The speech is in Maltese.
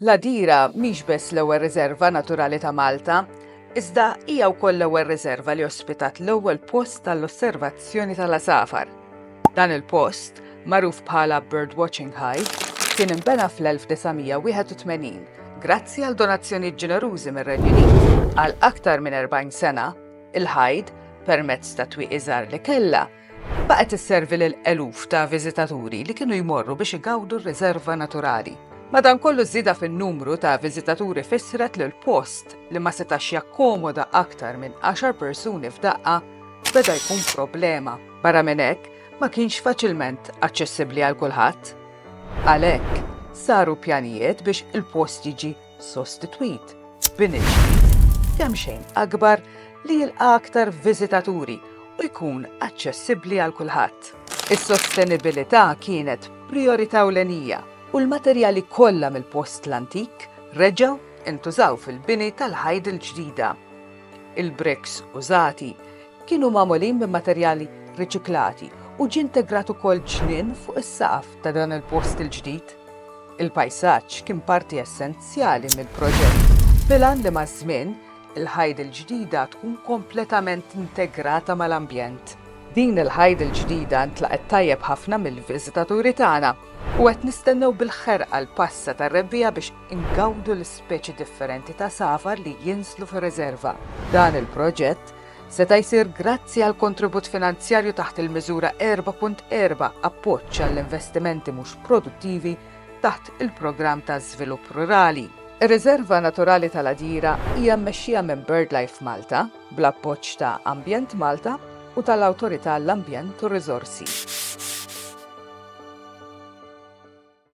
L-Għadira mhix biss l-ewwel riżerva naturali ta' Malta, iżda hija wkoll l-ewwel riżerva li ospitat l-ewwel post għall-osservazzjoni tal-għasafar. Dan il-post, magħruf bħala Bird Watching High, kien inbena fl-1981 grazzi għal donazzjonijiet ġenerużi mir-Renju Unit. Għal aktar minn 40 sena, il-Hyde, permezz tat-twieqi żgħar li kellha, Baqgħet isservi lil eluf ta' viżitaturi li kienu jmorru biex igawdu r-riserva naturali. Madankollu żieda fin-numru ta' viżitaturi fissret li l-post li ma setax jakkomoda aktar minn 10 persuni f'daqqa beda jkun problema. Barra minn hekk, ma kienx faċilment aċċessibbli għal kulħadd. Għalhekk, saru pjanijiet biex il-post jiġi sostitwit b'bini ġdid kemxejn akbar li jilqa' aktar viżitaturi u jkun aċċessibbli għal kulħadd. Is-sostenibilità kienet prijorità ewlenija u l-materjali kollha mill-post l-antik reġgħu ntużaw fil-bini tal-ħajt il-ġdida. Il-briks użati kienu magħmulin minn materjali riċiklati u ġie integrat ukoll ġnien fuq is-saqaf ta' dan il-post il-ġdid. Il-pajsaġġ kien parti essenzjali mill-proġett, bil-għan li maż-żmien, il-ħajt il-ġdida tkun kompletament integrata mal-ambjent. Din il-ħajt il-ġdida ntlaqgħet tajjeb ħafna mill-viżitaturi tagħna u qed nistennew bil-ħerqa l-passa tar-Rebbiegħa biex ingawdu l-ispeċi differenti ta' safar li jinżlu fir-riżerva. Dan il-proġett Seta' jsir grazzi għall-kontribut finanzjarju taħt il-Miżura 4.4 Appoġġ għall-investimenti mhux produttivi taħt il-Programm ta' Żvilupp Rurali. Ir-Riżerva Naturali tal-Għadjira hija mmexxija minn BirdLife Malta, bl-appoġġ ta' Ambjent Malta u tal-Awtorità għall-Ambjent u r-Riżorsi.